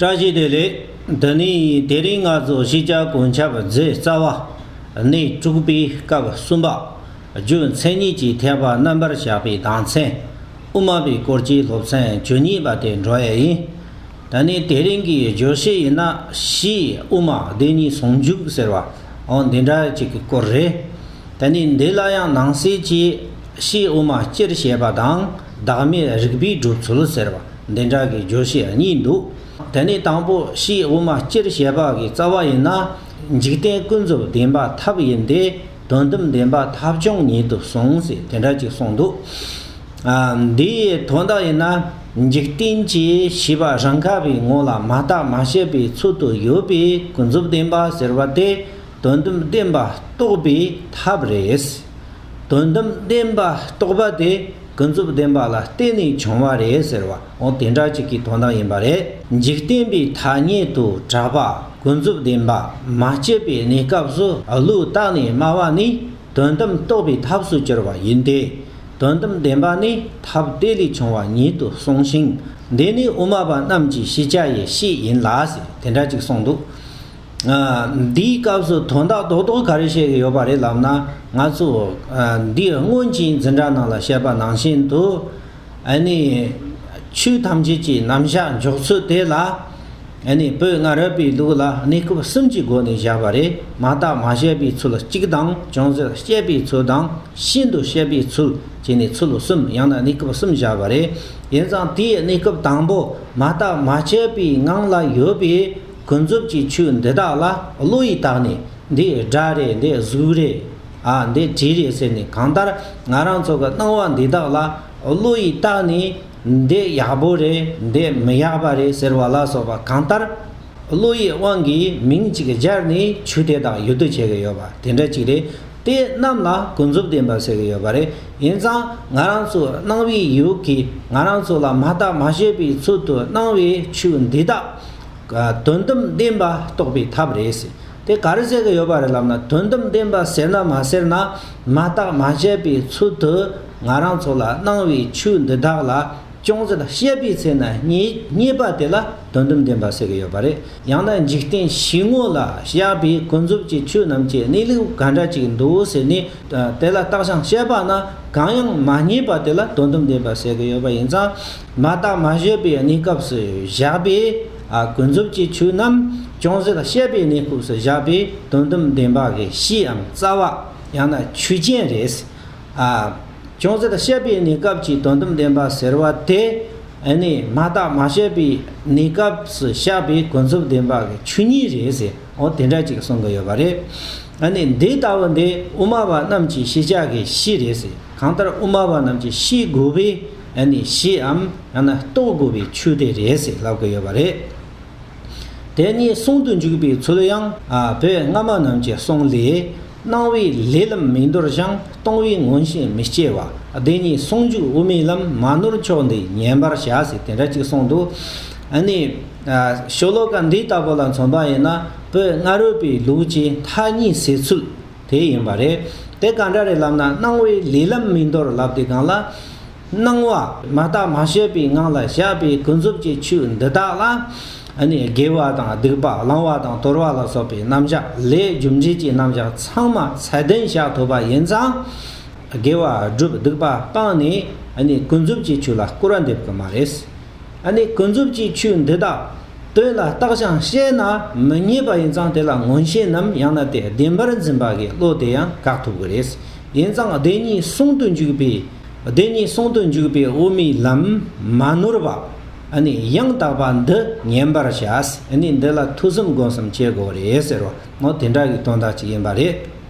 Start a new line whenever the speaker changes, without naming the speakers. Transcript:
བཀྲ་ཤིས་བདེ་ལེགས། འདི་ནི་དེ་རིང་ང་ཚོ་གཞིས་ཆགས་དགོན་ཆབ་རྫི་རྩ་བ། གནས་དྲུག་པའི་སྐབས་གསུམ་པ། རྒྱུ་མཚན་གཉིས་ཀྱི་ཐེག་པ་རྣམ་པར་བཞག་པའི་གདངས་ཚན། དབུ་མ་པའི་སྐོར་གྱི་སློབ་ཚན་བཅུ་གཉིས་པ་དེ་འགྲོ་ཡས་ཡིན། ད་ནི་དེ་རིང་གི་བརྗོད་གཞི་ཡིན་ན་གཞིས་དབུ་མ་བདེན་གཉིས་ཟུང་འཇུག་ཟེར་བའང་འདི་འདྲ་ཅིག་གི་སྐོར་རེད། ད་ནི་འདི་ལ་ཡང་ནང་གསེས་ཀྱིས་གཞིས་དབུ་མ་སྤྱིར་བཤད་པ་དང། བདག་མེད་རིག་པའི་སྒྲུབ་ཚུལ་ཟེར་བ་འདི་འདྲ་གི་བརྗོད་བྱེད་གཉིས་འདུག་དེ་ནས་དང་པོ་ཕྱིའི་དབུ་མ་སྤྱིར་ཞལ་འབག་གི་རྩ་བ་ཡིན་ན། འཇིག་རྟེན་ཀུན་རྫོབ་བདེན་པ་ཐབས་ཡིན་ཏེ་དོན་དམ་བདེན་པ་ཐབས་བྱུང་ཉིད་དུ་གསུངས་ཟེར་དེ་འདྲ་ཅིག་གསུངས་འདུག་ཨ། འདིའི་དོན་དག་ཡིན་ན། འཇིག་རྟེན་གྱི་བྱིས་པ་རང་ག་བའི་ངོ་ལ་མ་བརྟགས་མ་དཔྱད་པའི་ཚུལ་དུ་ཡོད་པས་ཀུན་རྫོབ་བདེན་པ་ཟེར་བ་དེ། དོན་དམ་བདེན་པ་རྟོགས་པའི་ཐབས་རེད། དོན་དམ་བདེན་པ་རྟོགས་པ་དེ་ཀུན་རྫོབ་བདེན་པ་ལ་བརྟེན་ནས་བྱུང་བ་རེད་ཟེར་བ་འོ་དེ་འདྲ་ཅིག་གི་དོན་དག་ཡིན་པ་རེད། འཇིག་རྟེན་པའི་ཐ་སྙད་དུ་གྲགས་པ་ཀུན་རྫོབ་བདེན་པ་མ་སྐྱེས་པའི་གནས་སྐབས་སུ་བློས་བརྟགས་ནས་སྨྲ་བ་ནི་དོན་དམ་རྟོགས་པའི་ཐབས་སུ་གྱུར་པ་ཡིན་ཏེ། དོན་དམ་བདེན་པ་ནི་ཐབས་དེ་ལས་བྱུང་བ་ཉིད་དུ་གསུངས་ཤིང་འདི་ནི་དབུ་མ་པ་རྣམས་ཀྱི་ཤེས་བྱ་ཡི་གཤིས་ཡིན་ལ་ཟེར་དེ་འདྲ་ཅིག་གསུངས་འདུག་འདིའི་སྐབས་སུ་དོན་དག་རྡོག་རྡོག་ག་རེ་བཤད་ཀྱི་ཡོད་པ་རེད་ལབ་ན་ང་ཚོས་འདིར་སྔོན་གྱི་འཛིན་གྲྭ་རྣམས་ལ་བཤད་པ་ནང་བཞིན་དུ། ཆོས་ཐམས་ཅད་ཀྱི་རྣམ་གཞག་འཇོག་ཚུལ་དེ་ལ། བོད་ལྔ་རབས་པའི་ལུགས་ལ་གནས་སྐབས་གསུམ་གྱི་སྒོ་ནས་བཞག་པ་རེད་མ་དག་མ་བཤད་པའི་ཚུལ་གཅིག་དང་ཅུང་ཟད་བཤད་པའི་ཚུལ་དང་ཤིན་ཏུ་བཤད་པའི་ཚུལ་བྱས་ནས་ཚུལ་གསུམ་ཡང་ན་གནས་སྐབས་གསུམ་བཞག་པ་རེད། དེ་ཙང་དེའི་གནས་སྐབས་དང་པོ་མ་དག་མ་བཤད་པའི་ངང་ལ་ཡོད་པའི། ཀུན་རྫོབ་ཀྱི་ཆོས་འདི་དག་ལ་བློ་ཡིས་བརྟགས་ནས་འདི་སྒྲ་རེད་འདི་གཟུགས་རེད། ཨ་འདི་དྲི་རེད་ཟེར་ནས་གང་ལྟར་ང་རང་ཚོ་གི་སྣང་བ་འདི་དག་ལ་བློ་ཡིས་བརྟགས་ནས་འདི་ཡག་པོ་རེད་འདི་མི་ཡག་པ་རེད་ཟེར་བ་ལ་སོགས་པ་གང་ལྟར་བློ་ཡི་དབང་གིས་མིང་གཅིག་སྦྱར་ནས་ཆོས་དེ་དག་ཡོད་དུ་བྱེད་ཀྱི་ཡོད་པ་དེ་འདྲ་གཅིག་རེད་དེ་རྣམས་ལ་ཀུན་རྫོབ་བདེན་པ་ཟེར་གྱི་ཡོད་པ་རེད་ཡིན་ཙང་ང་རང་ཚོ་སྣང་བའི་ཡུལ་གྱིས་ང་རང་ཚོ་ལ་མ་བརྟགས་མ་དཔྱད་པའི་ཚུལ་དུ་སྣང་བའི་ཆོས་འདི་དག་དོན་དམ་བདེན་པ་རྟོགས་པའི་ཐབས་རེད་ཟེར། དེ་ག་རེ་བྱེད་ཀྱི་ཡོད་པ་རེད་ལབ་ན་དོན་དམ་བདེན་པ་ཟེར་ན་མ་ཟེར་ན་མ་བརྟགས་མ་དཔྱད་པའི་ཚུལ་དུ་ང་རང་ཚོ་ལ་གནང་བའི་ཆོས་འདི་དག་ལ་ཅུང་ཟད་དཔྱད་པའི་ཚེ་ན་རྙེད་པ་དེ་ལ་དོན་དམ་བདེན་པ་ཟེར་གྱི་ཡོད་པ་རེད། ཡང་ན་འཇིག་རྟེན་བཞི་དངོས་ལ་བཞག་པའི་ཀུན་རྫོབ་ཀྱི་ཆོས་རྣམས་ཀྱི་གནས་ལུགས་ག་འདྲ་ཅིག་འདུག་ཟེར་ནས་དེ་ལ་བརྟགས་བྱང་དཔྱད་པ་ན་གང་ཡང་མ་རྙེད་པ་དེ་ལ་དོན་དམ་བདེན་པ་ཟེར་གྱི་ཡོད་པ་ཡིན་ཙང། མ་བརྟགས་མ་བཞེད་པའི་གནས་སྐབས་སུ་བཞག་པས། ཀུན་རྫོབ་ཀྱི་ཆོས་རྣམས་ཅུང་ཟད་བཤད་པའི་གནས་སྐབས་སུ་བཞག་པས་དོན་དམ་བདེན་པ་གི་གཤིས་འམ་རྩ་བ། ཡང་ན་ཆོས་ཅན། རེད། ཅུང་ཟད་བཤད་པའི་གནས་སྐབས་ཀྱི་དོན་དམ་བདེན་པ་ཟེར་བ་དེ། ནི་མ་བརྟགས་མ་བཤད་པའི་གནས་སྐབས་སུ་བཞག་པས་ཀུན་རྫོབ་བདེན་པ་གི་ཆོས་ཉིད་རེད་ཟེར་འོ་དེ་འདྲ་ཅིག་གསུང་གི་ཡོད་པ་རེད། ནི་འདི་ལྟ་བུ་འདི་དབུ་མ་པ་རྣམས་ཀྱི་ཤེས་བྱ་གི་གཤིས་རེད། གང་ལྟར་དབུ་མ་པ་རྣམས་ཀྱི་ཤེས་དགོས་པའི། ཨ་ནི་ཞེའམ་ཡང་ན་རྟོགས་དགོས་པའི་ཆོས་དེ་རེད་ཟེར་ལབ་དགོས་ཡོད་པ་རེད། དེ་གཉིས་ཟུང་དུ་འཇུག་པའི་ཚུལ་ཡང་བོད་སྔ་མ་རྣམས་ཀྱི་གསུང་ལས། སྣང་བའི་ལས་ལམ་མིག་འདོར་ཞིང་སྟོང་བའི་མངོན་ཤེས་མི་སྐྱེ་བ་དེ་གཉིས་ཟུང་འཇུག་དབུ་མའི་ལམ་མ་ནོར་མཆོག་འདི་ཉན་པར་བྱ་ཟེར་དེ་འདྲ་གཅིག་གསུངས་འདུག་ཨ་ནི། ཤོ་ལོ་ཀ་འདི་ལྟ་བུ་ལ་མཚོན་པ་ཡིན་ན་བོད་སྔ་རོལ་པའི་ལུགས་ཀྱི་མཐའ་གཉིས་ཟེར་ཚུལ། དེ་ཡིན་པ་རེད། དེ་གང་འདྲ་རེད་ལབ་ན་སྣང་བའི་ལས་ལམ་མིན་མདོར་ལབ་དེ་གང་ལ། སྣང་བ། མ་བརྟགས་མ་ཤེས་པའི་ངང་ལ་བཞག་པའི་ཀུན་རྫོབ་ཀྱི་ཆོས་འདི་དག་ལ། དགེ་བ་དང་སྡིག་པ་བླང་བ་དང་དོར་བ་ལ་སོགས་པའི་རྣམ་གཞག་ལས་རྒྱུ་འབྲས་ཀྱི་རྣམ་གཞག་ཚང་མ་ཚད་ལྡན་བཞག་ཐུབ་པ་ཡིན་ཙང། དགེ་བ་བསྒྲུབ་སྡིག་པ་སྤང་ནས་ཀུན་རྫོབ་ཀྱི་ཆོས་ལ་སྐུར་བ་འདེབས་གི་མ་རེད། ཨ་ནི་ཀུན་རྫོབ་ཀྱི་ཆོས་འདི་དག་དོན་ལ་བརྟགས་ཤིང་དཔྱད་ན་མི་རྙེད་པ་ཡིན་ཙང་དེ་ལ་མངོན་ཤེས་ནམ་ཡང་ན་དེ་བདེན་པར་འཛིན་པ་གི་བློ་དེ་ཡང་བཀག་ཐུབ་གི་རེད། ཡིན་ཙང་བདེན་གཉིས་ཟུང་དུ་འཇུག་པའི། བདེན་གཉིས་ཟུང་དུ་འཇུག་པའི་དབུ་མའི་ལམ་མ་ནོར་བ། ཨ་ནི་ཡང་དག་པ་འདི་ཉན་པར་བྱ། ཨ་ནི་འདི་ལ་ཐུགས་བསམ་སྒོམ་བསམ་བྱེད་དགོས་རེད་ཟེར་བ་ནོ་དེ་འདྲ་གི་དོན་དག་ཅིག་ཡིན་པ་རེད།